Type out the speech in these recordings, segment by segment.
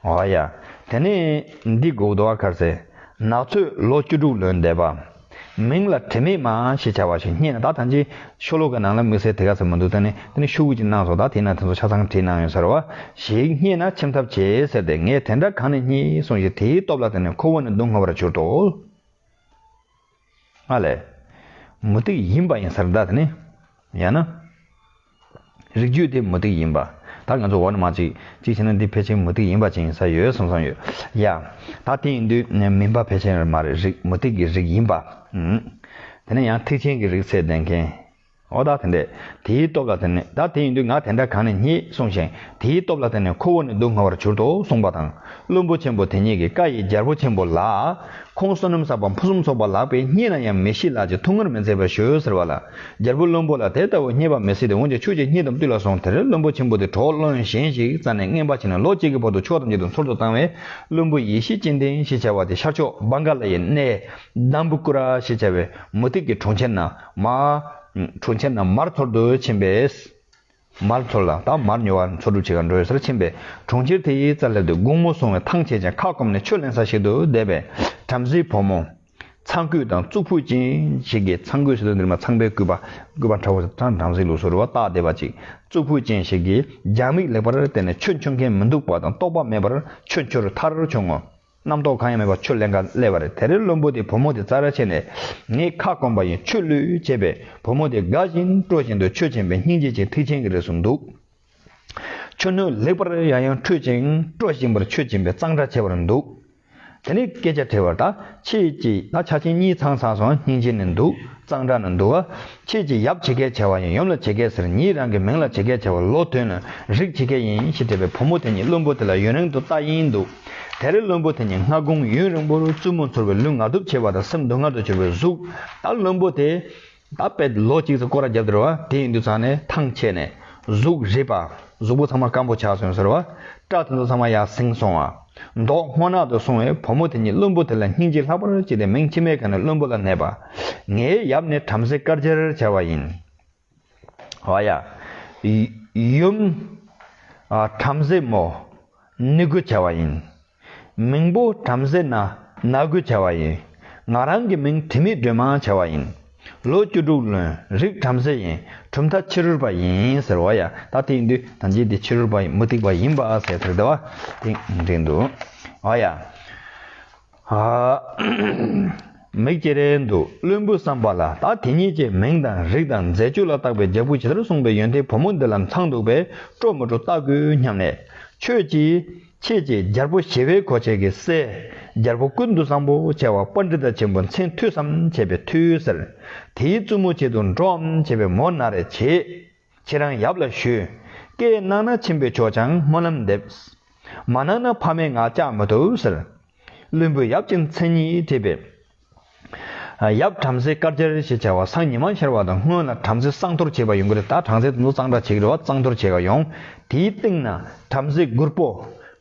ཨོ་ཨ་ཡ། དེ་ནས་འདི་གུ་ཟླ་བ་གར་ཚེ་ནག་ཚོས་ལོ་བཅུ་དྲུག་ལོན་འདས་པ། མིང་ལ་དྲི་མེད་མ་ཞེས་བྱ་བ་ཞིག་རྙེད་ན་ད་ཐམས་ཅད་ཤོ་ལོ་ཀའི་ནང་ལ་དམིགས་བསལ་དེ་ག་ཟེར་མི་འདུག་ད་ནི་དེ་ནི་ཤོ་ཀུ་ཅིག་སྣང་སོང་ད་དེའི་ནང་དེ་ཚོ་ཆ་ཚང་བྲིས་གནང་ཡོད་ཟེར་བ་ཞིག་རྙེད་ན་ཁྱིམ་ཐབ་བྱེད་ཟེར་ཏེ་ངས་དེ་འདྲ་གང་ནས་རྙེད་སོང་ཞེས་དེའི་སྟོབས་ལ་བརྟེན་ནས་ཁོ་བོ་ནི་སྡུག་བསྔལ་བར་གྱུར་ཏོ། ཨ་ལས། མུ་སྟེགས་ཡིན་པ་ཡིན་སར་འདའ་དེ་ནི། ཡང་ན། རིགས་རྒྱུད་དེ་མུ་སྟེགས་ཡིན་པ། ད་ང་ཚོ་འོག་ནས་མ་གཅིག་གཅིག་བྱས་ན་འདི་ཕལ་ཆེར་མུ་སྟེགས་ཡིན་པ་ཅན་ཡིན་ས་ཡོད་བསམ་བསམ་ཡོད། ཡ། ད་དེ་ཡིན་དུས་མིན་པ་ཕལ་ཆེར་མ་རེད་རིགས་མུ་སྟེགས་ཀྱི་རིགས་ཡིན་པ། དེ་ནས་ཡང་ཐེག་ཆེན་གྱི་རིགས་ཚད་ལྡན་མཁན། འོ་ད་དེ་འདྲས། དེའི་སྟོབས་ལ་བརྟེན་ནས་ད་དེ་ཡིན་དུས་ང་དེ་འདྲ་གང་ནས་རྙེད་གསུངས་ཤིང་དེའི་སྟོབས་ལ་བརྟེན་ནས་ཁོ་བོ་ནི་སྡུག་བསྔལ་བར་གྱུར་ཏོ་གསུངས་པ་དང། བློན་པོ་ཆེན་པོ་དེ་ཉིད་ཀྱི་བཀའ་ཡི་རྒྱལ་པོ་ཆེན་པོ་ལགས། ཁོང་བསོད་ནམས་བསགས་པ་ཕུན་སུམ་ཚོགས་པ་ལགས་པས་རྙེད་ན་ཡང་མི་ཤི་ལགས་ཀྱི་ཐུགས་སྔར་མི་མཛད་པར་བྱོས་ཟེར་བ་ལ། རྒྱལ་པོ་བློན་པོ་ལ་དེ་ལྟ་བུ་རྙེད་པ་མི་སྲིད་དེ་འོན་ཀྱང་ཁྱོད་ཀྱིས་རྙེད་དམ་བཏུལ་ལ་གསུངས་དེར་བློན་པོ་ཆེན་པོ་དེ་གྲོགས་བློན་གཞན་ཞིག་རྩ་ནས་རྔན་པ་བྱས་ནས་ལོ་གཅིག་གི་བར་དུ་ཕྱོགས་ཐམས་ཅད་དུ་འཚོར་དུ་བཏང་བས་བློན་པོ་ཡེ་ཤེས་སྤྱན་ལྡན་ཞེས་བྱ་བ་དེ་ཤར་ཕྱོགས་བཱན་ག་ལ་ཡའི་གནས། དཱམྦུ་ཀུ་ར་ཞེས་བྱ་བའི་མུ་སྟེགས་ཀྱི་གྲོང་ཁྱེར་ན། མ། གྲོ་ཁྱེར་རྣམས་མར་འཐོར་དུ་ཕྱིན་པས། མར་འཐོར་ལ་དང་མར་ཉོ་བར་འཚོ་སྒྲུབ་བྱེད་ཀ་འགྲོའི་སར་ཕྱིན་པས་གྲོང་ཁྱེར་དེའི་རྩར་སླེབས་དུས་དགུང་མོ་སོང་བས་ཐང་ཆད་ཅིང་ཁ་སྐོམ་ནས་ཆུ་ལེན་ས་ཞིག་ཏུ་བསྡད་པས་བྲམ་ཟེའི་བུ་མོ། ཚངས་སྐུད་དང་གཙུག་ཕུད་ཅན་ཞིག་གིས་ཚངས་སྐུད་ཟེར་དུས་འདིར་མ་ཚངས་པའི་སྐུད་པ་སྐུད་པ་འདྲ་བོ་ཚངས་བྲམ་ཟེའི་ལུགས་སུ་རུ་བ་བཏགས་བསྡད་པ་ཅིག་གཙུག་ཕུད་ཅན་ཞིག་གིས་རྒྱང་མིག་ལེགས་པར་བལྟས་ནས་ཆུ་འཁྱོལ་མཁན་མི་འདུག་པ་དང་རྟོགས་པ་མེད་པར་ཆུ་འཁྱོལ་ཐར་བྱུང་ངོ། རྣམ་རྟོག་གང་ཡང་མེད་པར་ཆུ་ལེན་ག་ལས་བ་རེད་དེ་རེད་བློན་པོ་དེས་བུ་མོ་དེ་རྩྭ་ར་ཕྱེ་ནས། ངས་ཁ་སྐོམ་པ་ཡིན་ཆུ་བླུད་བྱས་པས་བུ་མོ་དེ་དགའ་བཞིན་སྤྲོ་བཞིན་དུ་ཆུ་བྱིན་པས་སྙིང་རྗེ་ཅན་ཐིག་ཆེན་གྱི་རིགས་སུ་འདུག། ཆུ་སྣོད་ལེགས་པར་ཡང་ཡང་འཁྲུད་ཅིང་སྤྲོ་བཞིན་པར་ཆུ་བྱིན་པས་གཙང་སྦྲ་ཆེ་བར་འདུག། དེ་ནས་སྐད་ཆ་དྲིས་བར་ད་ཁྱེད་ཀྱིས་ད་ཆ་ཁྱེད་གཉིས་ཚང་ཚང་སོང་སྙིང་རྗེ་ནས་འདུག་གཙང་སྦྲ་ན་འདུག་ཨ། ཁྱེད་ཀྱིས་ཡབ་བྱེད་སྐལ་བྱ་བ་ཡིན་ཡུམ་ལ་བྱེད་སྐལ་ཟེར་ཉིད་རང་གི་མིང་ལ་བྱེད་སྐལ་བྱ་བ་ལོ་དོན་ནི་རིགས་བྱེད་སྐལ་ཡིན་ཞེས་བྲིས་པའི་བུ་མོ་དེ་ཉིད་བློན་པོ་དེ་ལ་ཡུན་རིང་དུ་བལྟ་ཡིན་འདུག་དེ་རིང་བློན་པོ་དེ་ཉིད་སྔ་དགོང་ཡུན་རིང་པོར་བཙུན་མོ་ཚོར་བའི་ལུས་ངག་སྡུག་ཆེ་བ་དང་སེམས་སྡུག་བསྔལ་དུ་གྱུར་པའི་གཟུགས་ལྟར་བློན་པོ་དེ་ད་པད་ལོ་གཅིག་ཚེ་སྐོར་ར་བརྒྱབ་སྟེར་བ་དེ་ཡིན་དུས་ཚང་ནས་ཐང་ཆད་ནས་གཟུགས་རིད་པ་གཟུགས་པོ་ཚང་མ་སྐམ་པོ་ཆགས་སོང་ཟེར་བ་སྐྲ་དེ་ཚོ་ཚང་མ་ཡར་བསྲིངས་སོང་བ། མདོག་སྔོ་ནག་ཏུ་སོང་བས་བུ་མོ་དེ་ཉིད་བློན་པོ་དེ་ལ་སྙིང་རྗེ་ལྷག་པར་སྐྱེས་ཏེ་མིང་ཅི་སྨྲས་ཁ་ནས་བློན་པོ་ལ་སྨྲས་པ། ངའི་ཡབ་ནི་བྲམ་ཟེ་དཀར་ཆེར་བྱ་བ་ཡིན། བ་ཡ། ཡུམ། བྲམ་ཟེ་མོ། ནི་གུ་བྱ་བ་ཡིན། མིང་པོ་བྲམ་ཟེ་ན་ན་གུ་བྱ་བ་ཡིན། ང་རང་གི་མིང་དྲི་མེད་སྒྲོན་མ་བྱ་བ་ཡིན། ལོ་བཅུ་དྲུག་ལོན་རིགས་བྲམ་ཟེ་ཡིན་གྲུབ་མཐའ་ཕྱི་རོལ་པ་ཡིན་ཟེར་བ་ཡང་ད་དེང་དུས་ད་རྗེས་དེ་ཕྱི་རོལ་པ་མུ་སྟེགས་པ་ཡིན་པ་ཟེར་ཚུལ་དེ་བ་དེང་དེང་དུ་བ་ཡ། མིག་ཅེ་རེ་འདུག་བློན་པོའི་བསམ་པ་ལ་ད་དེ་ཉིད་ཀྱི་མིང་དང་རིགས་དང་མཛད་སྤྱོད་ལ་བརྟགས་པའི་རྒྱལ་པོ་ཇི་ལྟར་གསུངས་པའི་ཡོན་ཏན་བུ་མོ་འདི་ལ་མཚང་འདུག་པས་སྤྲོ་མི་སྤྲོ་བལྟ་དགོས་སྙམ་ནས། ཁྱོད་ཀྱིས། ཁྱེད་ཀྱིས་རྒྱལ་པོ་ཞི་བའི་གོ་ཆས་ཀྱི་སྲས། རྒྱལ་པོ་ཀུན་ཏུ་བཟང་པོ་བྱེ་བ་པ་འདི་དག་ཆེན་པོ་མཚན་མཐུ་བསམ་བྱས་པའི་མཐུ་ཟེར། དེའི་བཙུན་མོ་ཆེད་དུ་འགྲོ་འམ་བྱས་པའི་མོ་ན་རེ་བྱས། ཁྱེད་རང་ཡབ་ལ་ཞུས། ཀྱེ་གནང་ན་ཆེན་པོའི་ཆོས་ཀྱང་སྨོན་ལམ་འདེབས། མ་གནང་ན་ཕ་མའི་ངག་བཅག་མི་ཐུབ་ཟེར། བློན་པོས་ཡབ་ཀྱི་མཚན་ཉིད་དྲིས་པས། ཡབ་བྲམ་ཟེ་དཀར་སྦྱར་ཞེས་བྱ་བ་སང་ཉི་མ་འཆར་བ་དང་སྔོན་ལ་བྲམ་ཟེ་གསང་གཏོར་བྱེད་པ་ཡོང་གི་རེད་ད་བྲང་ཟེ་དུད་འགྲོ་གཙང་སྦྲ་བྱེད་ཀྱི་རེད་བ་གཙང་གཏོར་བྱེད་ཀ་ཡོང། དེའི་སྟེང་ན་བྲམ་ཟེ་དགུར་པོ།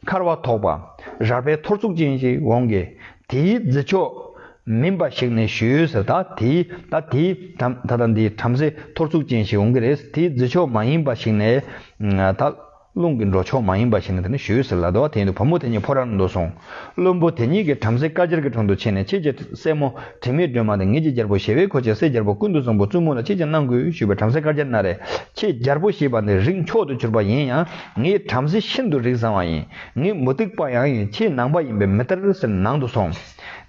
འཁར་བ་ཐོགས་པ། རལ་པའི་ཐོར་ཚུགས་ཅན་ཞིག་འོང་གི། དེའི་རྫི་ཕྱོགས། མིན་པ་ཞིག་ནས་བཞུད་ཟེར་ད་དེའི་ད་དེའི་ད་ད་འདི་བྲམ་ཟེ་ཐོར་ཚུགས་ཅན་ཞིག་འོང་གི་རེད་དེའི་རྫི་ཕྱོགས་མ་ཡིན་པ་ཞིག་ནས་ད། རླུང་གི་འགྲོ་ཕྱོགས་མ་ཡིན་པ་ཞིག་ནི་དེ་ནི་ཞུས་ཟེར་ལ་དོ་བ་དེ་ཡིན་དུ་བུ་མོ་དེ་གཉིས་ཕོ་ར་ནང་དུ་སོང། བློན་པོ་དེ་གཉིས་ཀྱིས་བྲམ་ཟེ་བཀའ་ཅེར་གྱི་དྲུང་དུ་ཕྱིན་ནས་ཁྱེད་ཀྱི་སྲས་མོ་དྲི་མེད་སྒྲོལ་མ་དང་ངེད་ཀྱི་རྒྱལ་པོ་ཞེ་བས་ཁོ་ཅེས་སྲས་རྒྱལ་པོ་ཀུན་ཏུ་བཟང་པོ་བཙུན་མོ་ལ་ཁྱེད་ཀྱིས་གནང་དགོས་ཞུས་པས་བྲམ་ཟེ་བཀའ་ཅེར་གནང་རེ། ཁྱེད་རྒྱལ་པོ་ཞེས་པ་འདི་རིགས་མཆོག་ཏུ་གྱུར་པ་ཡིན་ཡང་ངའི་བྲམ་ཟེ་ཤིན་ཏུ་རིགས་བཟང་བ་ཡིན། ངའི་མུ་སྟེགས་པ་ཡང་ཡིན་ཁྱེད་ནང་པ་ཡིན་པས་མི་སྟེར་ཟེར་ནང་དུ་སོང།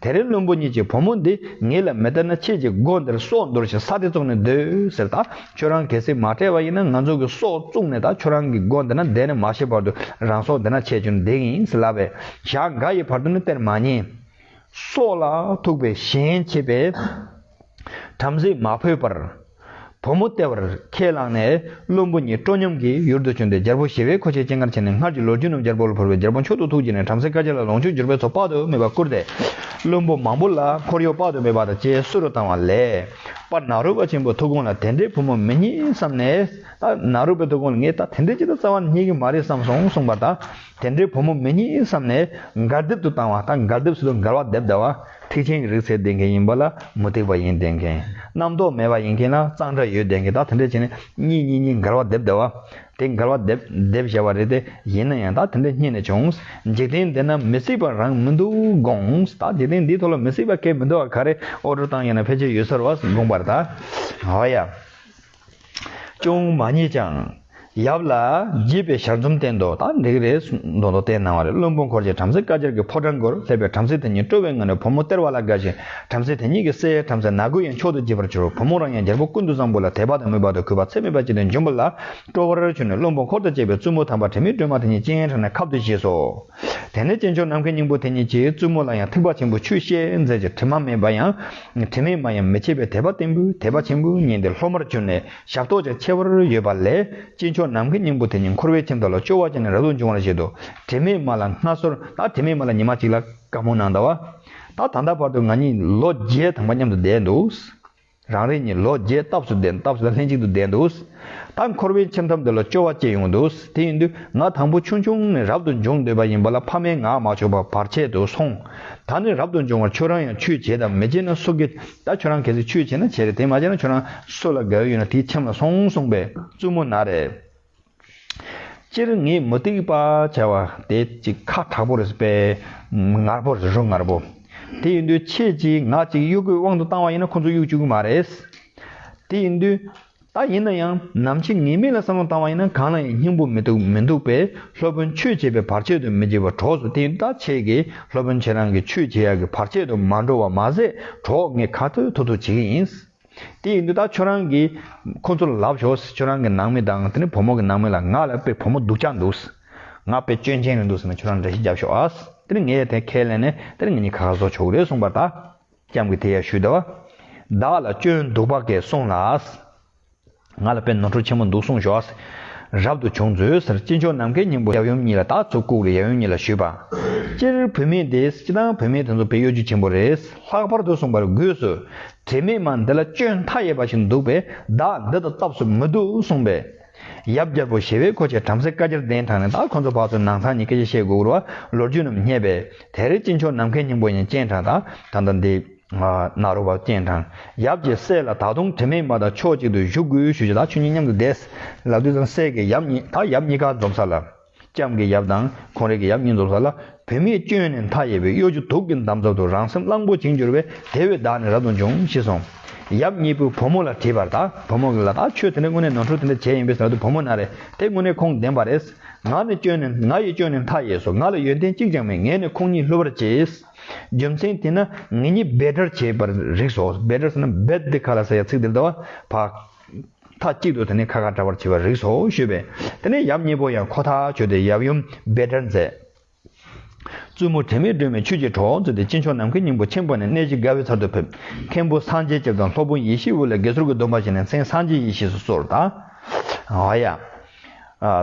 དེ་རིང་བློན་པོ་གཉིས་ཀྱིས་བུ་མོ་འདི་ངེད་ལ་མི་སྟེར་ན་ཁྱེད་ཀྱི་སྒོ་འདིར་སྲོག་འདོར་ཞིང་ས་དེ་བཙོང་ནས་སྡོད་ཟེར་ད་ཁྱོད་རང་གལ་སྲིད་མ་བྲལ་བ་ཡིན་ན་ང་ཚོ་གི་སྲོག་བཙུགས་ནས་ད་ཁྱོད་རང་གི་སྒོ་འདི་ན་བསྡད་ནས་མ་ཤི་བར་དུ་རང་སྲོག་འདི་ན་ཆད་ཀྱང་འདེགས་ཡིན་ཟེར་ལབ་པས་ཞག་འགའ་ཡི་བར་དུ་ནི་སྟེར་མ་ཉན། སྲོག་ལ་ཐུག་པའི་ཞེན་བྱེད་པས་བྲམ་ཟེ་མ་ཕོད་པར། བུ་མོ་ལྟེ་བར་ཁས་བླངས་ནས་བློན་པོ་གཉིས་སྤྲོ་ཉམས་ཀྱིས་ཡུར་དུ་བྱོན་ཏེ་རྒྱལ་པོ་ཞི་བའི་མཁོ་ཆས་སྤྱན་སྔར་བྱས་ནས་སྔར་གྱི་ལོ་རྒྱུས་རྣམས་རྒྱལ་པོ་ལ་བོར་བས་རྒྱལ་པོ་མཆོག་ཏུ་ཐུགས་བརྗེད་ནས་བྲམ་ཟེ་དཀར་ཆག་ལ་ལོངས་སྤྱོད་འབྱོར་པའི་ཚོགས་དཔག་ཏུ་མེད་པ་བསྐུར་ཏེ། བློན་པོ་མང་པོ་ལ་འཁོར་གཡོག་དཔག་ཏུ་མེད་པ་དང་བཅས་བསུ་རུ་བཏང་བ་ལས། པར་ནཱ་རུ་པ་ཆེན་པོའི་ཐུགས་དགོངས་ལ་དེ་འདྲའི་བུ་མོ་མི་རྙེད་བསམས་ནས། ནཱ་རུ་པའི་ཐུགས་དགོངས་ལ་ངས་ད་དེ་འདྲའི་ཅི་ལྟར་རྩ་བ་ནས་རྙེད་ཀྱི་མ་རེད་བསམས་སོང་གསུངས་པར་ད། དེ་འདྲའི་བུ་མོ་མི་རྙེད་བསམ་ནས་མགར་སྡེབ་ཏུ་བཏང་བ་ལྟར་མགར་སྡེབ་སུ་ལ་མགར་བ་སྡེབ་བདའ་བ་ཐེག་ཆེན་གྱི་རིགས་ཚད་ལྡན་མཁན་ཡིན་པ་ལ་མུ་སྟེགས་པ་ཡིན་བསྡད་མཁན། རྣམ་རྟོག་མེད་པ་ཡིན་མཁན་ལ་གཙང་སྦྲ་ཡོད་བསྡད་མཁན་དག་དེ་འདྲས་བྱས་ནས་གཉིས་གཉིས་གཉིས་མགར་བ་སྡེབ་བདའ་བ། དེ་མགར་བ་སྡེབ་སྡེབ་བྱས་པ་རེད་དེ་ཡིན་ན་ཡང་དག་དེ་འདྲས་རྙེད་ནས་བྱུང། འཇིག་རྟེན་འདི་ན་མི་གཟིགས་པ་རང་མི་འདུག་དགོངས། དག་འཇིག་རྟེན་འདིའི་ཐོག་ལ་མི་གཟིགས་པ་སྐད་མི་འདུག་ག་རེ་ཨོ་སྒྲོ་བཏང་ཡོད་ན་ཕལ་ཆེར་ཡོད་ས་རུ་བ་དགོངས་པར་གདའ། འོ་ཡ། ཅུང་མ་རྙེད་ཀྱང། ཡབ་ལ་དགྱེས་པའི་ཞལ་འཛུམ་བསྟན་ཏོ། ད་འདི་རེ་མདོ་མདོ་བསྟན་གནང་བ་རེད་བློན་པོ་འཁོར་བཅས་བྲམ་ཟེ་བཀའ་གྱར་གྱི་ཕོ་བྲང་སྒོར་སླེབས་པས་བྲམ་ཟེ་དེ་ཉིད་སྤྲོ་བའི་ངང་ནས་བུ་མོ་སྟེར་བ་ལ་དགའ་ཞིང་བྲམ་ཟེ་དེ་ཉིད་ཀྱི་སྲས་བྲམ་ཟེ་ནག་གུ་ཡང་མཆོག་ཏུ་དགྱེས་པར་གྱུར་བུ་མོ་རང་ཡང་རྒྱལ་པོ་ཀུན་ཏུ་བཟང་པོ་ལ་དད་པ་དང་མོས་པ་དང་གུས་པ་ཚད་མེད་པ་བསྐྱེད་དེ་འབྱུང་པོ་ལ་སྤྲོ་བར་གྱུར་ནས་བློན་པོ་འཁོར་དང་བཅས་པའི་བཙུན་མོ་དམ་པ་དྲི་མེད་སྒྲོལ་མ་དེ་ཉིད་སྤྱན་དྲངས་ནས་ཁབ་ཏུ་བཞེས་སོ། དེ་ནས་སྐྱེས་མཆོག་ནམ་མཁའི་སྙིང་པོ་དེ་ཉིད་ཀྱིས་བཙུན་མོ་ལ་ཡང་ཐེག་པ་ཆེན་པོའི་ཆོས་བཤད་མཛད་ཀྱི་དྲི་མ་མེད་པ་ཡང་དྲི་མེད་མ་ཡང་མི་ཕྱེད་པའི་དད་པ་བརྟན་པོས་དད་པ་ཆེན་པོའི་ཉིན་དེར་སློབ་མར་གྱུར་ནས་ཞབས་ཏོག་ཅིག་ཕྱེ་བར་ཡོད་པ་ལས་སྐྱེས་མཆོག་ནམ་མཁའི་སྙིང་པོ་དེ་ཉིད་འཁོར་བའི་ཁྱིམ་དག་ལ་སྤྱོ་བ་ཅན་ནི་རབ་ཏུ་འབྱུང་བར་བཞེད་དོ། དྲི་མེད་མ་ལ་སྔ་སོར་ད་དྲི་མེད་མ་ལ་ཉི་མ་གཅིག་ལ་བཀའ་མོ་གནང་ད་བ། ད་ད་ལྟ་བར་དུ་ང་གཉིས་ལོ་བརྒྱའི་དང་པ་མཉམ་དུ་བསྡད་འདུག། རང་རེ་གཉིས་ལོ་བརྒྱའི་སྟབས་སུ་བསྡད་སྟབས་སུ་ལྷན་ཅིག་ཏུ་བསྡད་འདུག་ད་འཁོར་བའི་ཁྱིམ་ཐབ་འདི་ལ་སྐྱོ་བ་སྐྱེས་ཡོང་འདུག་དེ་ཡིན་དུས་ང་དང་པོ་ཆུང་ཆུང་ནས་རབ་ཏུ་འབྱུང་འདོད་པ་ཡིན་པ་ལ་ཕ་མས་ངག་མ་ཆོད་པར་བར་ཆད་དུ་སོང། ད་ནི་རབ་ཏུ་འབྱུང་བར་ཁྱོད་རང་ཡང་ཆུས་བྱས་དང་མི་བྱས་ན་སུ་དགེ་ད་ཁྱོད་རང་གལ་སྲིད་ཆུས་བྱས་ན་བྱས་རེད་དེ་མ་བྱས་ན་ཁྱོད་རང་སུ་ལ་དགའ་འོས་ཡོད་ན་དེའི་ཁྱིམ་ལ་སོང་གསུངས་པས་བཙུན་མོ་ན་རེ། སྤྱིར་ངས་མུ་སྟེགས་པ་བྱ་བ་དེ་ཅིག་ཁ་དྲག་པོ་རེད་པས། ངར་པོ་རེད་རོ་ངར་པོ། དེ་ཡིན་དུས་ཁྱེད་ཀྱིས་ང་གཅིག་གཡུག་དགོས་དབང་དུ་བཏང་བ་ཡིན་ན་ཁོ་ཚོ་གཡུག་བཅུག་གི་མ་རེད། དེ་ཡིན་དུས་ད་ཡིན་ན་ཡང་ནམ་ཕྱེད་ངེས་མེད་ལ་བསམ་བློ་བཏང་བ་ཡིན་ན་གང་ལ་ཡང་སྙིང་པོ་མི་འདུག་མི་འདུག་པས་སློབ་དཔོན་ཆོས་བྱེད་པའི་བར་ཆད་དུ་མི་བྱེད་པར་གྲོགས་སུ་དེ་ཡིན་དུས་ད་ཁྱེད་ཀྱིས་སློབ་དཔོན་ཁྱེད་རང་གི་ཆོས་བྱེད་ཡག་གི་བར་ཆད་དུ་མ་འགྲོ་བ་མ་ཟད་གྲོགས་ངས་ཁ་ཐུག་ཐུག་ཐུག་བྱེད་ཀྱི་ཡིན། དེ་ཡིན་དུས་ད་ཁྱོད་རང་གིས་ཁོ་ཚོ་ལ་ལབ་ཞོག་ཁྱོད་རང་གི་ནང་མི་དང་དེ་ནས་བུ་མོ་གི་ནང་མི་ལ་ང་ལ་དཔེ་བུ་མོ་སྡུག་ཅག་འདུག་ང་དཔེ་སྐྱོན་ཅན་རེད་འདུག་ཟེར་ན་ཁྱོད་རང་འདྲ་ཤེས་རྒྱབ་ཤོག་ཨ། དེར་ངས་དེ་ཁས་ལེན་ནས་དེར་ང་གཉིས་ཁ་ཁ་བཟོ་ཆོག་གི་རེད་གསུངས་པར་ད་སྐྱབས་ཀྱིས་དེ་ཡར་ཞུས་ཟླ་བ། བདག་ལ་སྐྱོན་འདུག་བ་གས་སོང་ལགས། ང་ལ་དཔེ་ནོར་འཁྲུལ་ཆེན་པོ་འདུག་གསུངས་ཞོག། རབ་ཏུ་བྱུང་མཛོད་ཟེར་གཅིག་མཆོག་ནམ་མཁའི་སྙིང་པོ་ཡབ་ཡུམ་གཉིས་ལ་དྭགས་ཚུར་བཀུག་ལ་ཡབ་ཡུམ་གཉིས་ལ་ཞུས་པ། སྤྱིར་བུད་མེད་འདི་སྤྱི་དང་བུད་མེད་དེ་ཚོ་བོད་ཡུལ་གྱི་ཆེན་པོ་རེད། ལྷག་པར་དུ་གསུངས་པར་སྒོས་སུ། དྲི་མེད་མ་འདི་ལ་སྤྱོད་མཐའ་ཡས་པ་ཞིག་འདུག་པས་བདག་འདི་དང་སྟབས་སུ་མི་འདུག་གསུངས་པས། ཡབ་རྒྱལ་པོ་ཞི་བའི་གོ་ཆས་བྲམ་ཟེ་བཀའ་རྒྱར་གདན་དྲངས་ནས་བདག་ཁོ་ཚོ་བར་དུ་ནང་ཚང་གཉིས་སྐད་ཆ་བཤད་དགོས་སྐོར་བ་ལོ་རྒྱུས་རྣམས་བསྙད་པས་དེར་གཅིག་མཆོག་ནམ་མཁའི་སྙིང་པོ་ཡང་སྤྱན་དྲངས། ད་ལྟ་འདི། ནཱ་རོ་བ་སྤྱན་དྲངས། ཡབ་ཀྱི་སྲས་ལ་ད་དུང་དྲི་མེད་མ་དང་ཕྱོགས་གཅིག་ཏུ་བཞུགས་དགོས་ཞུས་ལ་ཆོས་ཉིད་མཉམ་དུ་བསྡད། ལ་དུས་དང་སྲས་ཀྱི་ཡབ་གཉིས་ད་ཡབ་གཉིས་ཀ་འཛོམ་ས་ལ། ལྕམ་གྱི་ཡབ་དང་ཁོང་རེ་གི་ཡབ་གཉིས་འཛོམ་ས་ལ། བུད་མེད་སྐྱོན་ནི་མཐའ་ཡས་པའི་གཡོ་སྒྱུ་དུག་གི་འདམ་རྫབ་ཏུ་རང་སེམས་གླང་པོ་བྱིང་གྱུར་བས་དེ་བས་བདག་ནི་རབ་ཏུ་འབྱུང་ཤི་སོང། ཡབ་གཉིས་པོས་བུ་མོ་ལ་དྲིས་པར་ད་བུ་མོ་གིས་ལ་ད་ཁྱོད་དེ་འདྲ་དངོས་གནས་ནོར་འཁྲུལ་དེ་འདྲ་བྱས་ཡིན་པས་ད་དུས་བུ་མོ་ན་རེ་དེ་དངོས་གནས་ཁོང་བདེན་པ་རེད། ང་ནི་སྐྱོན་ནི་ང་ཡི་སྐྱོན་ནི་མཐའ་ཡས་སོ་ང་ལ་ཡོན་ཏན་གཅིག་ཀྱང་མེད་ངས་ནི་ཁོང་གཉིས་བསླུ་བར་བྱས། རྒྱུ་མཚན་དེས་ན་ངེད་གཉིས་རྦད་དྲར་བྱེད་པར་རིགས་སོ། རྦད་དྲར་ཟེར་ན bed དེ་ག་ལ་ཟེར་ཡང་ཚིག་དེར་འདྲ་བ། བག། མཐའ་གཅིག་ཏུ་དེ་ནི་ཁ་ཁ་འདྲ་བར་བྱེད་པར་རིགས་སོ་ཞུས་པས། དེ་ནས་ཡབ་གཉིས་པོ་ཡང་ཁོ་ཐག་ཆོད་དེ་ཡབ་ཡུམ་རྦད་དྲར་མཛད། བཙུན་མོ་དྲི་མེད་སྒྲོན་མའི་ཆོས་ཀྱི་གྲོགས་མཛོད་དེ་སྤྱི་མཆོག་ནམ་མཁའི་སྙིང་པོ་ཆེན་པོ་ནས་གནས་གཞི་དགའ་བའི་ཚར་དུ་ཕེབས། མཁན་པོ་སངས་རྒྱས་སྐྱབས་དང་སློབ་དཔོན་ཡེ་ཤེས་དབུས་ལ་དགེ་ཚོར་གྱི་སྡོམ་པ་བཞེས་ནས་མཚན་སངས་རྒྱས་ཡེ་ཤེས་སུ་གསོལ། ད། ཧཱུྃ།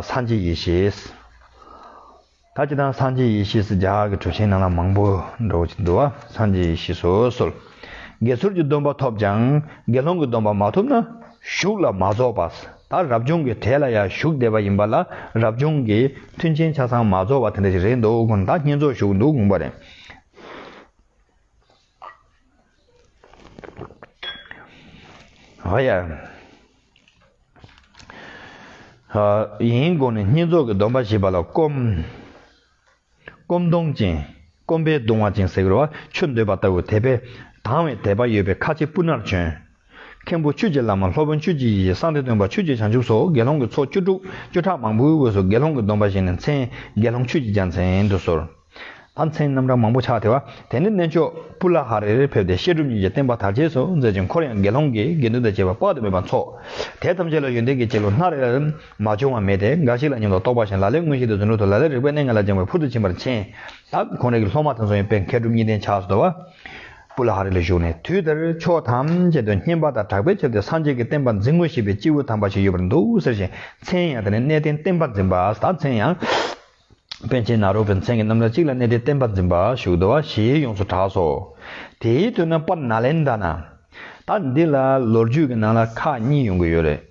སངས་རྒྱས་ཡེ་ཤེས། ད་ཅི་དང་སངས་རྒྱས་ཡེ་ཤེས་སུ་རྒྱ་གར་གྱི་གྲུ་ཆེན་རྣམས་ལ་མང་པོ་འགྲོ་བ་ཅིག་འདུག་བ་སངས་རྒྱས་ཡེ་ཤེས་སོ་སོར་དགེ་ཚོར་གྱི་སྡོམ་པ་ཐོབ་ཀྱང་དགེ་སློང་གི་སྡོམ་པ་མ་ཐོབ་ན་གཞུག་ལ་མ་རྫོགས་པ་ལྟར་རབ་བྱུང་གི་གྲལ་ལ་ཡང་གཞུག་བསྡད་པ་ཡིན་པ་ལ་རབ་བྱུང་གི་མཐུན་རྐྱེན་ཆ་ཚང་མ་རྫོགས་པ་དེ་འདྲ་ཞིག་རེད་འདུག་ད་བསྙེན་རྫོགས་གཞུག་འདུག་དགོངས་པ་རེད། ཨ་ཡ། ཡིན་དགོངས་ནས་བསྙེན་རྫོགས་ཀྱི་སྡོམ་པ་བཞི་པ་ལ་སྐོམ། སྐོམ་གདུང་ཅན། སྐོམ་པའི་གདུང་བ་ཅན་ཟེར་བ་ཆུ་འདོད་པ་ལྟ་བུ་དད་པས་དྭངས་བའི་དད་པ་ཡོད་པའི་ཁ་ཆེ་སྤུ་ནར་བྱོན། མཁན་པོ་ཆོས་ཀྱི་བླ་མ་ལྷོ་བོན་ཆོས་ཀྱི་ཡེ་ཤེས་གསང་སྟེ་སྟོན་པ་ཆོས་ཀྱི་བྱང་ཆུབ་སོགས་དགེ་སློང་གི་ཚོགས་བཅུ་དྲུག་བཅུ་ཕྲག་མང་པོའི་དབུས་སུ་དགེ་སློང་གི་སྡོམ་པ་བཞེས་ནས་མཚན་དགེ་སློང་ཆོས་ཀྱི་རྒྱལ་མཚན་དུ་གསོལ། ཨ་མཚན་རྣམ་གྲངས་མང་པོ་ཕྱག་འཚལ་བ། དེ་ནས་གནས་མཆོག་པུ་ལ་ཧ་རེ་རེར་ཕེབས་ཏེ་བཤད་སྒྲུབ་གཉིས་ཀྱི་བསྟན་པ་དར་རྒྱས་སུ་མཛད་ཅིང་འཁོར་ཡང་དགེ་སློང་གི་དགེ་འདུན་དང་བཅས་པ་དཔག་ཏུ་མེད་པ་འཚོགས། དེ་ཐམས་ཅད་ལ་ཡོན་ཏན་གྱི་སྐྱེས་བུ་སྣ་རེ་རེར་མ་བྱུང་བ་མེད་དེ་འགའ་ཞིག་ལ་སྙིང་ལ་རྟོགས་པ་བཞིན་ལ་ལའི་མངོན་ཤེས་དེ་རྫུ་འཕྲུལ་དུ་ལ་ལའི་རིག་པའི་གནས་ལྔ་ལ་སྦྱངས་པའི་ཕུལ་དུ་ཕྱིན་པར་མཁྱེན། ད་གོང་རིགས་ཀྱི་སློབ་མ་དང་མཚུངས་ཡིན་པས་མཁས་གྲུབ་གཉིས་ལྡན་ཕྱག་སོར་དོར་བ། སྤུ་ལ་ཧ་རི་ལ་བཞུགས་ནས་དུས་དེར་ཕྱོགས་ཐམས་ཅད་དུ་སྙན་པ་དང་གྲགས་པས་ཁྱབ་སྟེ་སངས་རྒྱས་ཀྱི་བསྟན་པ་འཛིན་ངོ་ཞེས་པའི་སྐྱེས་བུ་དམ་པ་ཞིག་ཡོད་པར་འདུག་ཟེར་ཞིང་མཚན་ཡང་དེ་ནི་གནས་བརྟན་བསྟན་པ་འཛིན་པ་དང་མཚན་ཡང། པཎ་ཆེན་ནཱ་རོ་པའི་མཚན་གྱི་རྣམ་གྲངས་གཅིག་ལ་གནས་བརྟན་བསྟན་པ་འཛིན་པ་བཞུགས་འདུག་ཞེས་ཡོངས་སུ་གྲགས་སོ། དེའི་དུས་ན་པཱ་ན་ལན་ད་ན། ད་འདི་ལ་ལོ་རྒྱུས་ཀྱི་ནང་ལ་ཁག་གཉིས་ཡོང་གི་ཡོད་རེད།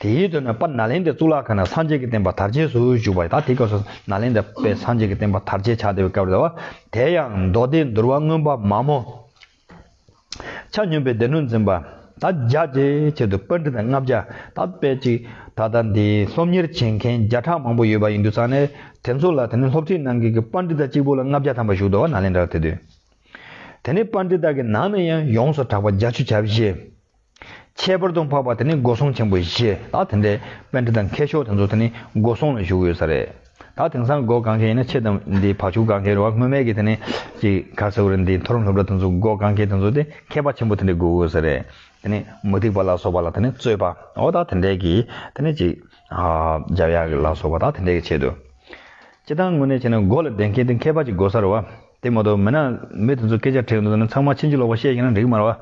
དེའི་དོན་ནི་པ་ན་ལེནྡྲའི་གཙུག་ལག་ཁང་ནས་སངས་རྒྱས་ཀྱི་བསྟན་པ་དར་རྒྱས་སུ་བཞུགས་པ་ཡིན་ད་དེ་སྐབས་སུ་ན་ལེནྡྲ་པས་སངས་རྒྱས་ཀྱི་བསྟན་པ་དར་རྒྱས་བྱ་བདེ་བའི་སྐབས་རེད་བ། དེ་ཡང་མདོ་སྡེ་འདུལ་བ་མངོན་པ་མ་མོ། ཆ་སྙོམས་པའི་སྡེ་སྣོད་འཛིན་པ། ད་རྒྱ་བཅས་ཆེད་དུ་པཎ་ཁྲི་དང་ལྔ་བརྒྱ་ད་སྤེལ་ཅིག་ད་ལྟ་འདི་སློབ་གཉེར་བྱེད་མཁན་བརྒྱ་ཕྲག་མང་པོ་ཡོད་པ་ཡིན་འདུག་ས་ནས་དེ་ཚོ་ལ་དེ་ནས་སློབ་ཁྲིད་གནང་མཁན་གྱི་པཎ་ཁྲི་ད་གཅིག་པུ་ལ་ལྔ་བརྒྱ་ཐམ་པ་བཞུགས་འདུག་བ་ན་ལེནྡྲར་དེ་དུས་དེ་ནས་པཎ་ཁྲི་ད་ཀྱི་ནང་ནས་ཡང་ཡོངས་སུ་གྲགས་པ་རྒྱ་ཆུ་བྱ་བྱེད། ཁྱད་པར་དུ་འཕགས་པ་དེ་ནི་སྒོ་སྲུང་ཆེན་པོ་བཞི་དང་དེ་འདྲའི་དཔེ་འདྲ་དང་མཁས་མཆོག་དེ་ཚོ་དེ་ནི་སྒོ་སྲུང་ལ་བཞུགས་ཡོད་ས་རེད། ད་དེང་སང་སྒོ་གང་མཁན་ཡིན་ན་ཆེ་དམ་འདི་བག་ཆུ་གང་མཁན་རེད་བ་སྔོན་མེད་ཀྱི་དེ་ནི་ཅིག་ག་ཟེར་བ་རེད་འདི་མཐོ་རིམ་སློབ་གྲྭ་དེ་ཚོ་སྒོ་གང་མཁན་དེ་ཚོ་དེ་མཁས་པ་ཆེན་པོ་དེ་འདྲའི་སྒོ་དབུས་ས་རེད། དེ་ནི་མུ་ཏིག་པ་ལ་སོགས་པ་ལ་དེ་ནི་རྩོད་པ་འོ་ད་དེ་འདྲའི་གི་དེ་ནི་ཅིག་རྒྱབ་ཡ་ལ་སོགས་པ་ད་དེ་འདྲའི་གི་ཆེད་དུ། སྤྱི་དང་དངོས་གནས་བྱས་ན་སྒོ་ལ་བསྡད་མཁན་དེ་མཁས་པ་ཅིག་སྒོ་ས་རེད་བ། དེ་མ་གཏོགས་མིན་ན། མི་དེ་ཚོ་སྐད་ཆ་དྲིས་འདུག་ཟེར་ན་ཚང་མ་ཕྱིན་ཅི་ལོག་པ་བཤད་ཀྱིན་ན་འགྲིག་མ་རོ།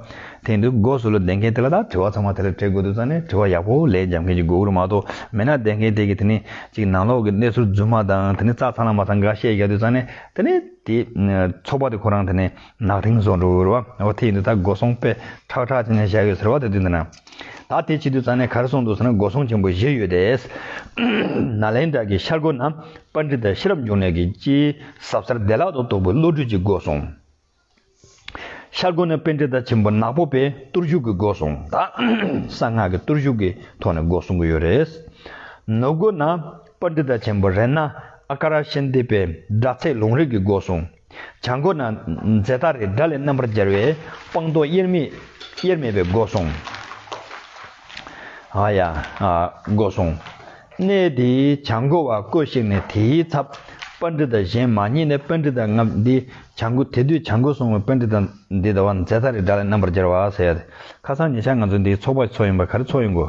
དེ་འདུག་སྒོ་ཟུར་ལ་བསྡད་མཁན་དེ་ལ་དག་དྲི་བ་ཚང་མ་དེ་ལ་དྲིས་དགོས་འདུག་ཙང་ནས་དྲི་བ་ཡག་པོ་ལས་འཇམ་མཁན་གྱི་མགོ་བོ་མ་གཏོགས་མིན་ན་བསྡད་མཁན་དེ་གིས་དེ་ནི་ཅིག་ནང་ལོག་གི་གནས་ཚུལ་རྫུན་མ་དང་དེ་ནི་རྩ་ཚང་ལ་མ་ཚང་འགའ་བཤད་རྒྱག་དུས་ཙང་ནས་དེ་ནི་དེ་ཚོགས་པ་དེ་ཁོ་རང་དེ་ནི་ནག་དིང་བཟོ་འགྲོ་འོ་དེ་ཡིན་དུས་ད་སྒོ་སོང་དཔེ་ཁྲག་ཁྲག་ཅན་ཞིག་བཞག་ཡོད་ཟེར་བ་དེ་དུས་འདི་ན། ད་དེ་ཕྱི་དུས་ཚང་ནས་གར་སོང་འདུག་ཟེར་ན་སྒོ་སྲུང་ཆེན་པོ་བཞི་ཡོད་དེ། ནཱ་ལེནྡྲ་གྱི་ཤར་སྒོ་ན་པཱ་འདྲི་དང་ཤེས་རབ་འབྱུང་གནས་ཀྱི་སྤྱིའི་ཟབ་སར་བདེ་བླག་ཏུ་རྟོགས་པའི་བློ་གྲོས་ཀྱི་སྒོ་སྲུང། ཤར་སྒོ་ན་པཱ་འདྲི་དང་ཆེན་པོ་ནག་པོ་པའི་གཏོར་བཞུགས་ཀྱི་སྒོ་སྲུང་དང། གསང་སྔགས་ཀྱི་གཏོར་བཞུགས་ཀྱི་ཐོག་ནས་སྒོ་སྲུང་གི་ཡོད་རེད། ནུབ་སྒོ་ན་པཱ་འདྲི་དང་ཆེན་པོ་རེ་ན་ཨཀྵ་ར་ཤཱནྟི་པའི་སྒྲ་ཚད་ལུང་རིགས་ཀྱི་སྒོ་སྲུང། བྱང་སྒོ་ན་རྫས་སྟ་རེ་དགྲ་ལས་རྣམ་པར་རྒྱལ་བའི་སྤངས་རྟོགས་དབྱེར་མེད་དབྱེར་མེད་པའི་སྒོ་སྲུང། ཨ་ཡ། སྒོ་སྲུང། གནས་དེའི་བྱང་སྒོ་བ་སྐོས་ཤིག་ནས་དེའི་ཚབ་པ་འདི་དང་གཞན་མ་རྙེད་ནས་པད་འདི་དང་ལྔ་འདི་བྱང་སྒོ་དེ་དུས་བྱང་སྒོ་སྲུང་བའི་པད་འདི་དང་འདི་ཟླ་བ་རྫས་སྟ་རེ་དགྲ་ལས་རྣམ་པར་རྒྱལ་བ། ཁ་སང་ཉེ་ཆར་ང་ཚོ་འདིའི་ཚོགས་པ་ཚོགས་ཡིན་པ་ག་རེ་ཚོགས་ཡོང་གོ།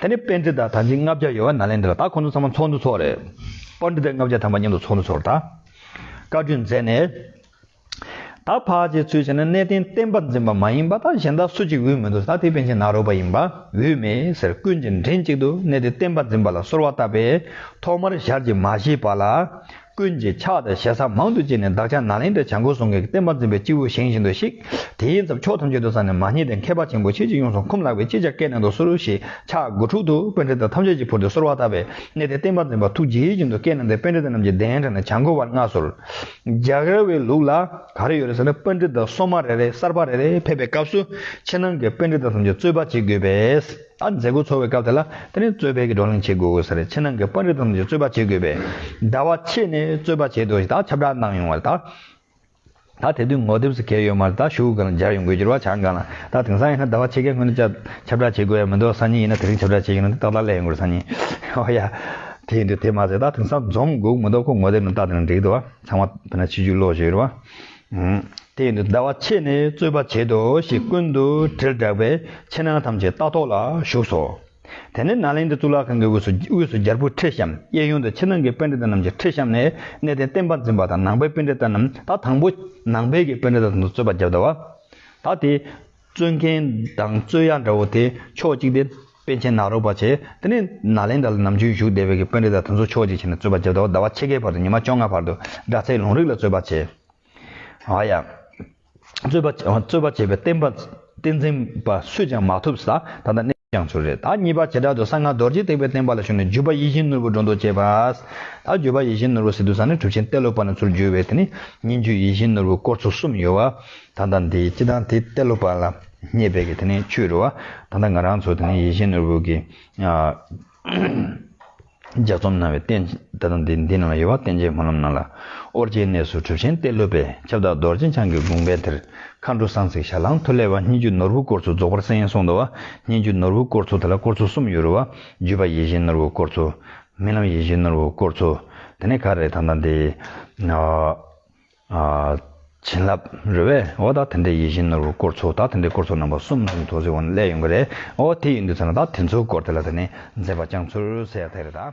དེ་ནས་སྤེན་ཚེ་དང་དར་ཆེན་ལྔ་བརྒྱ་ཡོད་བ་ནཱ་ལེནྡྲ་ད་ཁོང་ཚོ་ཚང་མ་ཚོགས་འདུ་ཚོགས་རེད། དཔར་འདི་དེ་ལྔ་བརྒྱ་ཐམ་པ་མཉམ་དུ་ཚོགས་འདུ་ཚོགས་རེད་ད། བཀའ་བཀྲོལ་མཛད་ནས། ད་ཕག་ཅེས་ཚུལ་བྱས་ན་གནས་བརྟན་བསྟན་པ་འཛིན་པ་མ་ཡིན་པ་ད་གཞན་དག་སུ་གཅིག་འོས་མི་འདུག་ད་དེ་པན་ཆེན་ནག་རོག་པ་ཡིན་པ་འོས་མེད་ཟེར་ཀུན་གྱིས་མགྲིན་གཅིག་ཏུ་གནས་བརྟན་བསྟན་པ་འཛིན་པ་ལ་གསོལ་བ་བཏབ་པས་ཐོག་མར་ཞར་གྱི་མ་ཞེས་པ་ལ། ཀུན་གྱིས་ཕྱག་དང་ཞལ་བཟང་མང་དུ་བཅས་ནས་བདག་ཅག་ནཱ་ལེནྡྲའི་བྱང་སྒོར་སོང་གིས་བསྟན་པ་འཛིན་པའི་སྤྱི་བོར་བཞེངས་བཞིན་དུ་གཤེགས། དེའི་མཚམས་ཕྱོགས་ཐམས་ཅད་དུ་ས་ནི་མ་རྙེད་དེ་མཁས་པ་ཆེན་པོ་ཁྱེད་ཀྱིས་ཡོངས་སུ་འཁུམས་ལགས་པས་ཅི་བྱ་སྐད་ནན་དུ་གསོལ་ཞེས་ཕྱག་མགོ་འཁྲུགས་འདུག་དཔོན་རིགས་དང་ཐམས་ཅད་ཀྱིས་ཕུར་དུ་གསོལ་བ་བཏབ་པས་གནས་དེར་བསྟན་པ་འཛིན་པ་ཐུགས་དགྱེས་བཞིན་དུ་སྐད་ནན་དུ་དཔོན་རིགས་དེ་རྣམས་ཀྱི་གདན་དྲངས་ནས་བྱང་སྒོ་བར་མངགས་གསོལ། རྒྱགས་ར་བའི་ལུགས་ལ་ག་རེ་ཡོད་རེད་ཟེར་ན་དཔོན་རིགས་དག་སོ་མ་རེ་རེ་གསར་པ་རེ་རེ་ཕེབས་པའི་སྐབས་སུ་ཕྱི་ནང་གི་དཔོན་རིགས་དག་ཐམས་ཅད་རྩོད་པ་བྱེད་དགོས་པས། ད་མཛད་སྒོ་འཚོགས་པའི་སྐབས་དེ་ལ་དེ་རིང་རྩོད་པའི་གི་བགྲོ་གླེང་བྱེད་དགོས་དགོས་ཟེར་རེད་ཕྱི་ནང་གི་པར་རིས་ཙམ་གྱིས་རྩོད་པ་བྱེད་དགོས་པས་ཟླ་བ་ཕྱེད་ནས་རྩོད་པ་བྱེད་དགོས་ཞེས་ད་ཁྱབ་བསྒྲགས་གནང་ཡོང་བ་རེད་ད། ད་དེ་དུས་ངོ་དེབ་སུ་གས་ཡོད་མ་རེད་ད་ཞུ་གི་གང་སྦྱར་ཡོང་དགོས་གྱུར་བ་ཆ་འགའ་ན་ད་དེང་སང་ཡིན་ན་ཟླ་བ་ཕྱེད་ཀའི་སྔོན་དུ་ཁྱབ་བསྒྲགས་བྱེད་དགོས་ཡ་མི་འདུག་སང་ཉིན་ཡིན་ན་དེ་རིང་ཁྱབ་བསྒྲགས་བྱེད་ཀྱི་ནི་འདུག་ཏག་ཏག་གླས་ཡོང་དགོས་རེད་སང་ཉིན་ཨོ་ཡ། དེ་ཡིན་དུས་དེ་མ་ཟད་ད་དེང་སང་འཛོམས་དགོས་ཀྱི་མི་འདུག་ཁོ་ངོ་དེབ་ནང་ལྟ་དེ་རིང་འགྲིག་འདུག་བ་ཚང་མ་བོད་ན་ཆིག་བརྒྱུད་ཀློག་བཞིན་ཡོད་རེད་བ། དེ་ཡིན་དུ་ཟླ་བ་ཕྱེད་ནས་རྩོད་པ་བྱེད་དོ་ཞེས་ཀུན་ཏུ་དྲིལ་བསྒྲགས་པས་ཕྱི་ནང་ཐམས་ཅད་རྟ་ཐོག་ལ་བཞུགས་སོ། དེ་ནས་ནཱ་ལེནྡྲའི་གཙུག་ལག་ཁང་གི་དབུས་སུ་དབུས་སུ་རྒྱལ་པོའི་ཁྲི་བཤམས་གཡས་གཡོན་དུ་ཕྱི་ནང་གི་དཔེ་འགྲེལ་ཟླ་རྣམས་ཀྱི་ཁྲི་བཤམས་ནས་གནས་བརྟན་བསྟན་པ་འཛིན་པ་དང་ནང་པའི་དཔེ་འགྲེལ་ཟླ་རྣམས་ད་དང་པོ་ནང་པའི་གི་དཔེ་འགྲེལ་ཟླ་དང་དུ་རྩོད་པ་བརྒྱབ་ཟླ་བ། ད་དེ། རྩོད་མཁན་དང་རྩོད་ཡ་འདྲ་བོ་དེ་ཕྱོགས་གཅིག་སྟེ། དཔོན་ཆེན་ནག་རོག་པ་ཆེ་དེ་ནི་ནཱ་ལེནྡྲ་ལ་ནམ་རྒྱུན་བཞུགས་བསྡད་པའི་དཔོན་རིགས་དང་དེ་ཚོ་ཕྱོགས་གཅིག་བྱས་ནས་རྩོད་པ་བྱེད་དོ་ཟླ་བ་ཕྱེད་ཀའི་བར་དུ་ཉི་མ་བཅོ་ལྔའི་བར་དུ་སྒྲ་ཚད་ལུང་རིགས་ལ་རྩོད་པ་བྱེད། ཨ་ཡ། རྩོད་པ་རྩོད་པ་བྱེད་པའི་བསྟན་པ་བསྟན་འཛིན་པ་སུས་ཀྱང་མ་ཐུབ་ས་ད་ལྟ་གནས་ཀྱང་ཚུལ་རེད་ད་གཉིས་པ་བྱེ་བྲག་ཏུ་གསང་སྔགས་རྡོ་རྗེ་ཐེག་པའི་བསྟན་པ་ལ་ཞུགས་ནས་བརྒྱུད་པ་ཡིད་བཞིན་ནོར་བུ་སྒྲོ་འདོགས་བཅད་པ། ད་བརྒྱུད་པ་ཡིད་བཞིན་ནོར་བུ་སི་ཏུ་ས་ནས་གྲུབ་ཆེན་ཏེ་ལོ་པ་ན་ཚུར་བསྒྱུར་བས་དེ་ནི་སྙན་བརྒྱུད་ཡིད་བཞིན་ནོར་བུ་སྐོར་ཚོ་གསུམ་ཡོད། ད་ལྟ་འདི་སྤྱི་དང་དེ་ལྟ་ལོ་བར་ལ་སྙེད་པའི་དེ་ནི་ཆོས་རོ། ད་ལྟ་ང་རང་ཚོ་དེ་ནི་ཡེ་ཤེས་ནོར་བུ་གྱི་ལྗགས་རྩོམ་གནང་བའི་རྟེན་ད་ལྟ་འདི་འདི་ནང་ལ་ཡོད་པ་བརྟེན་བྱའི་སྨོན་ལམ་གནང་ལ། ཨོ་རྒྱན་གནས་སུ་གྲུབ་ཆེན་གཏེར་སློབ་པའི་ཁྱབ་བདག་རྡོ་རྗེ་འཆང་གི་དགོངས་པའི་དེར་མཁའ་འགྲོ་གསང་ཚིག་ཞལ་ལྷང་ཐོད་ལས་བ་སྙན་བརྒྱུད་ནོར་བུ་སྐོར་ཚོ་རྫོགས་པར་གསན་ཡན་སོང་དུ་བ་སྙན་བརྒྱུད་ནོར་བུ་སྐོར་ཚོ་དེ་ལ་སྐོར་ཚོ་གསུམ་ཡོད་རུ་བ་བརྒྱུད་པ་ཡེ་ཤེས་ནོར་བུ་སྐོར་ཚོ། རྨི་ལམ་ཡེ་ཤེས་ནོར་བུ་སྐོར་ཚོ། དེ་ནི་ག་རེ་ད་ལྟ་འདི། བྱིན་རླབས་རོལ་བས་འོ་ད་དེ་འདྲའི་ཡིད་བཞིན་ནོར་བུ་སྐོར་ཚོ་ད་དེ་འདྲའི་སྐོར་ཚོ་རྣམ་པ་གསུམ་གསུམ་ཚོ་ཟིག་འོ་ན་ལས་ཡོང་གི་རེད་འོ་དེ་ཡིན་དུས་ཚར་ན་ད་དེ་ཚོའི་སྐོར་དེ་ལ་ད་ནི་མཛེས་པ་རྐྱང་ཚུར་ཟད་ཡག་ཐལ་རེད་ད།